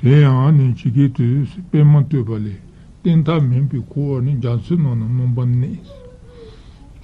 དེ་ཡང་ནི་ཇི་སྐད་དུ། པད་མ་བསྟོད་པ་ལས་སྟེང་མཐའ་མེད་པའི་འཁོར་བ་ནི་རྒྱ་མཚོའི་ནང་ན་སྣང་བར་གནས།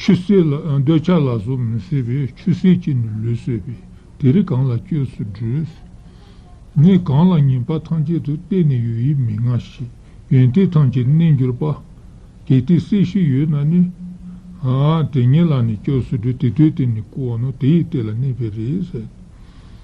ཆུ་སེར་ལ་འདོད་ཆགས་ལ་སོགས་མི་བཟད་པས་ཆུ་སེར་གྱིས་ནི་ལུས་གསོས་པས་དེ་རིགས་གང་ལ་སྐྱོས་སུ་བགྲོད། ངས་གང་ལ་ཉེས་པ་ཐམས་ཅད་དུ་བལྟས་ནས་ཡོད་ཡིད་མི་མངའ་ཞིག་ཡོན་ཏན་ཐམས་ཅད་གནས་འགྱུར་པ། གལ་ཏེ་སྲས་ཤིག་ཡོད་ན་ནི། དེ་ཉིད་ལ་ནི་སྐྱོས་སུ་བགྲོད་དེ་དུས་དེ་ནི་སྐུ་འོ་ན་དེ་ཡི་སྟེགས་ལ་གནས་པས་རེད།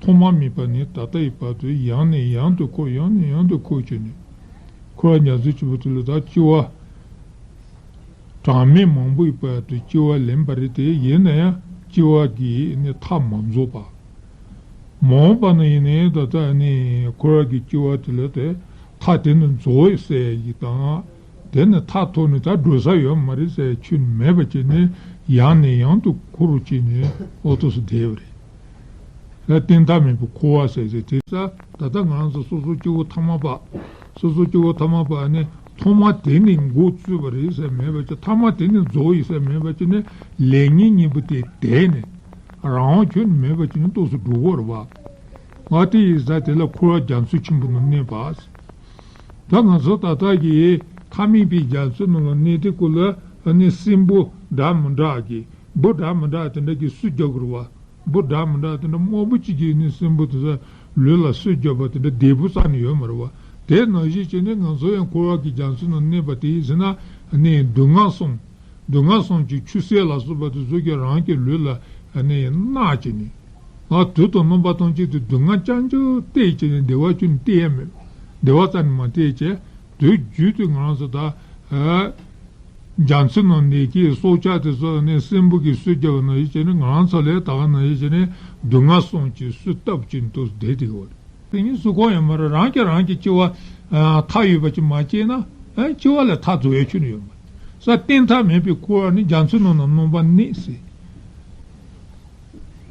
ཐོག་མ་མེད་པ་ནས་ད་ལྟ་ཡི་བར་དུ་ཡང་ནས་ཡང་དུ་འཁོར་ཡང་ནས་ཡང་དུ་འཁོར་བྱས་ནས། འཁོར་བ་ཉག་རྩེ་བཅུ་པོ་དེ་ལོ་ཟླ་བཅུ་བ་གྲངས་མེད་མང་པོ་ཡི་བར་དུ་སྐྱེ་བ་ལེན་པ་རེད་དེ། ཡིན་ན་ཡང་སྐྱེ་བ་འདིའི་མཐའ་མ་རྫོགས་པ། མ་འོངས་པ་ན་ཡིན་ན་ཡང་ད་ལྟ་འཁོར་བ་གྱི་སྐྱེ་བ་དེ་ལ་དེ་མཐའ་དེ་ནི་རྫོགས་ཡོད་ཟེར་བ་ཞིག་དང། དེ་ནི་མཐའ་ཐོག་ནས་ད་འགྲོ་ས་ཡོད་མ་རེད་ཟེར་བའི་ཆོས་ནི་མེད་པ་བྱས་ནས་ཡང་ནས་ཡང་དུ་འཁོར་བ་བྱས་ནས་འོ་ཐོག་སུ་བསྡད་པ་རེད། ལ་བརྟེན་ཐབས་མེད་པའི་འཁོར་བ་ཟད་ཟད་དེ། ས་ད་ལྟ་ང་ཚོ་སོ་སོ་སྐྱེ་བོ་ཐ་མ་པ། སོ་སོ་སྐྱེ་བོ་ཐ་མ་པ་ནི་ཐོག་མ་དེ་ནི་འགོ་བཙུད་པ་རེད་ཟེར་མེད་པ་ཅི་ཐ་མ་དེ་ནི་རྫོགས་ཡིན་ཟེར་མེད་པ་ཅི་ནི་ལས་ངན་གཉིས་པོ་དེ་དེ་ནི་རང་དབང་ཁྱོན་ནི་མེད་པ་ཅི་ནི་རྟོགས་སུ་འགྲོ་བར་བ། ང་དེ་ཡི་ས་དེ་ལ་འཁོར་བ་རྒྱ་མཚོ་ཆེན་པོ་ནང་གནས་པ། ད་ང་ཚོ་ད་ལྟ་གི་མཐའ་མེད་པའི་རྒྱ་མཚོའི་ནང་ལ་གནས་ཏེ་ཀུ་ལ་ནི་སྲིན་པོ་འདྲ་མི་འདྲ་གི་འབུ་དྲག་མི་དྲག་དེ་འདྲ་ཀྱིས་སུས་རྒྱབ་དགོས་རེད་བ། འབུ་དྲག་མི་དྲག་དེ་འདྲ་དམར་པོ་གཅིག་གིས་ནི་སྲིན་འབུ་དེ་དག་ལུས་ལ་སུས་རྒྱབ་པ་དེ་འདྲ་དལ་བུ་ཙམ་ནི་ཡོད་མ་རེད་བ། དེས་ན་གཞིས་བྱེས་ནི་ང་ཚོ་ཡང་འཁོར་བ་གྱི་རྒྱ་མཚོའི་ནང་གནས་པ་དེ་ཡིན་ཟེར་ན་ནི་སྡུག་བསྔལ་སོང། སྡུག་བསྔལ་སོང་ཅིག་ཆུ་སེར་ལ་སོགས་པ་དེ་ཚོས་ཀྱང་རང་གི་ལུས་ལ་ནི་གནག་ཅིག་ནི། ང་དུས་དང་རྣམ་པ་སྟོན་ཅིག་དེ་སྡུག་བསྔལ་ཅང་ཅུང་བལྟས་ཅིག་ནི་བདེ་བ་ཅུང་ནི་བལྟས་ཡ་མེད། བདེ་བ་ཙམ་ནི་མ་བལྟས་ཀྱི། དེའི་རྒྱུད་དུ་ང་རང་ཚོ་ད་རྒྱ་མཚོའི་ནང་ནས་ཀྱི་སྲོག་ཆགས་དེ་ཚོ་ནི་སྲིན་འབུ་གིས་གསོད་བརྒྱབ་པ་ནང་བཞིན་བྱས་ནས་ང་རང་ཚོ་ལས་ད་ག་ནང་བཞིན་བྱས་ནས་སྡུག་བསྔལ་སོང་ཅིག་གསོད་བཏབ་ཅིག་འདུག་བསྡད་དེ་གི་བ་རེད། དེ་གཉིས་སུ་གང་ཡང་མ་རེད་རང་གིས་རང་གི་སྐྱེ་བ་མཐའ་ཡོད་པ་ཅིག་མ་སྐྱེས་ན་སྐྱེ་བ་ལས་མཐའ་རྫོགས་ཡ་ཆོད་ནི་ཡོད་མ་རེད། ས་སྟེང་མཐའ་མེད་པའི་འཁོར་བ་ནི་རྒྱ་མཚོའི་ནང་ན་སྣང་བ་ནི་སྲིད།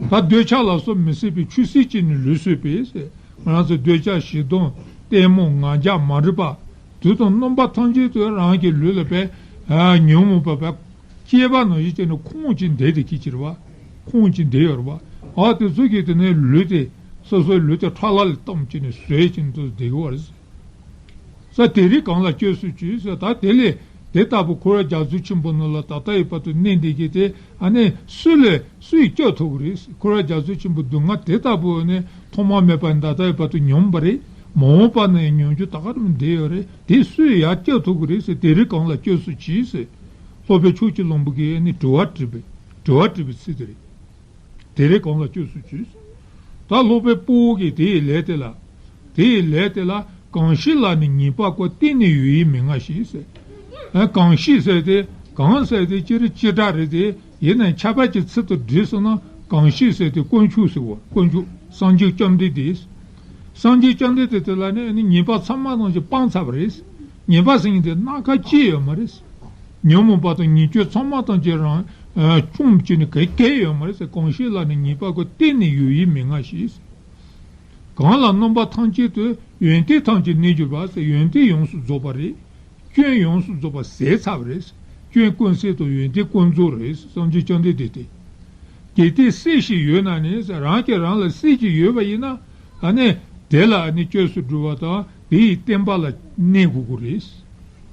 ད་འདོད་ཆགས་ལ་སོགས་མི་སྲིད་པའི་ཆུ་སྲིད་ཅིག་ནི་ལུས་སྲོད་པས། ང་རང་ཚོས་འདོད་ཆགས་བྱིས་གདོང་ལྟད་མོ་ང་རྒྱ་མ་རིག་པ་དུས་དང་སྣོམ་པ་ཐམས་ཅད་དུ་རང་གི་ལུས་ལ་བས་ཉོན་མོངས་པ་བས་སྐྱེས་པ་ནང་བཞིན་བྱས་ནས་ཁོང་ཅི་འདས་དེ་སྐྱེས་ཕྱིར་བ། ཁོང་ཅི་འདས་ཡོད་རེད་བ། དེ་ཚོ་སྐྱེས་དེ་ནས་ལུས་དེ་སོ་སོའི་ལུས་དེ་ཁྲག་ལྷ་ལས་གཏམས་བྱས་ནས་ཟོས་བྱས་ནས་ཚོ་སྡིག་བར་བྱས། ས་དེ་རིགས་གང་ལ་བཅོས་སུ་བྱོས་ཟེར་ད་དེ་ལས་དེ་ལྟ་བུ་འཁོར་བའི་རྒྱ་མཚོ་ཆེན་པོ་རྣམས་ལ་ད་ལྟ་ཡི་བར་དུ་གནས་འདི་གྱིས་དེ་ཨ་ནི་སུ་ལས་སུ་ཡིས་སྐྱོབ་ཐུབ་རེད་ཟེར་འཁོར་བའི་རྒྱ་མཚོ་ཆེན་པོ་སྡུག་བསྔལ་དེ་ལྟ་བུ་ཨ་ནི་ཐོག་མ་མེད་པ་ནས་ད་ལྟ་ཡི་བར་དུ་མྱོང་བ་རེད་མ་འོངས་པ་ན་ཡང་མྱོང་རྒྱུ་ད་ག་རེ་མི་འདི་ཡོད་རེད་དེ་སུ་ཡིས་ཡར་སྐྱོབ་ཐུབ་རེད་ཟེར་དེ་རིགས་གང་ལ་བཅོས་སུ་བྱོས་ཟེར། སློབ་དཔོན་ཕྱོགས་བཅུ་གླིང་བུ་གིས་ཨ་ནི་དྲི་བ་དྲིས་པའི་དྲི་བ་དྲིས་པའི་ཚུལ་དེ་རེད། དེ་ལས་གང་ལ་སྤྱོད་སུ་བྱོས། ད་སློབ་པའི་སྤོ་བོ་གིས་དེ་ཡི་ལས་དེ་ལ། དེ་ཡི་ལས་དེ་ལ་གང་ཞིག་ལ་ནི་ཉེས་པ་ཀོ་གཏན་ནས་ཡོད་ཡིན་མི་མངའ་ཞེས་ཟེར། གང་ཞིག་བསལ་ཏེ་གང་བསལ་ཏེ་སྤྱིར་ཅི་སྒྲ་རེ་དེ་ཡི་ནི་ཁྱད་པར་གྱི་ཚིག་ཏུ་འདྲེས་སོ་ན་གང་ཞིག་བསལ་ཏེ་དཀོན་མཆོག་ཟེར་བ་དཀོན་མཆོག་སངས་རྒྱས་བཅོམ་ལྡན་འདས། སངས་རྒྱས་བཅོམ་ལྡན་འདས་དེ་ལ་ནི་ཉེས་པ་ཚང་མ་རྣམས་ཀྱི་སྤང་ཚར་བ་རེད། ཉེས་པ་ཟིན་ཏེ་སྣ་ཁ་སྐྱེས་ཡོད་མ་རེད། ཉོན་མོངས་པ་དང་ཉེས་སྤྱོད་ཚང་མ་དང་བཅས་རང་བྱུང་བཅས་ནི་གེགས་བསྐལ་ཡོད་མ་རེད། གང་ཞིག་ལ་ནི་ཉེས་པ་ཀུན་གཏན་ནས་ཡོད་ཡིད་མི་མངའ་ཞིག། གང་ལ་སྣོམ་པ་ཐམས་ཅད་དུ་ཡོན་ཏན་ཐམས་ཅད་གནས་གྱུར་པ། ཡོན་ཏན་ཡོངས་སུ་རྫོགས་པ་རེད། སྐྱོན་ཡོངས་སུ་རྫོགས་པ་ཟས་ཚ་བ་རེད། སྐྱོན་ཀུན་ཟད་དང་ཡོན་ཏན་ཀུན་རྫོགས་རེད། སངས་རྒྱས་བཅོམ་ལྡན་འདས་དེ། གལ་ཏེ་སྲས་ཤིག་ཡོད་ན་ནི་རང་གིས་རང་ལ་སྲས་ཅིག་ཡོད་པ་ཡིན་ན། དེ་ལ་ནི་བཅོས་སུ་སྒྲུབ་པ་དང་དེ་ཡི་བསྟན་པ་ལ་གནས་དགོས་ཀྱི་རེད།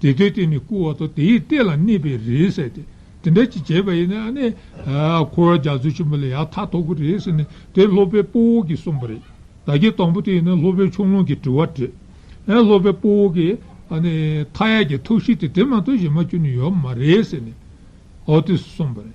དེ་ལྟའི་སྟེང་ནས་བསྐུར་བ་དང་དེའི་སྟེང་ལ་གནས་པའི་རེད་ཟེར་ཏེ། དེ་འདྲ་ཅིག་བྱས་པ་ཡིན་ན་ནི། འཁོར་བ་རྒྱ་མཚོ་ཆེན་པོ་ལ་ཡང་མཐའ་ཐོབ་ཀྱི་རེད་ཟེར་ནས་དེ་སློབ་པའི་སྤོ་བོ་གིས་གསུངས་པ་རེད། ད་ཁྱེད་དང་པོ་དེ་ཡིན་ན་སློབ་པའི་ཆུང་ལུང་གིས་དྲི་བ་དྲིས། སློབ་པའི་སྤོ་བོ་གིས། མཐའ་ཡས་ཀྱི་ཐུགས་གཤིས་དེ་དེ་མ་གཏོགས་གཞན་མ་ཁྱོན་ནས་ཡོད་མ་རེད་ཟེར་ནས། ཨོ་དེས་གསུངས་པ་རེད།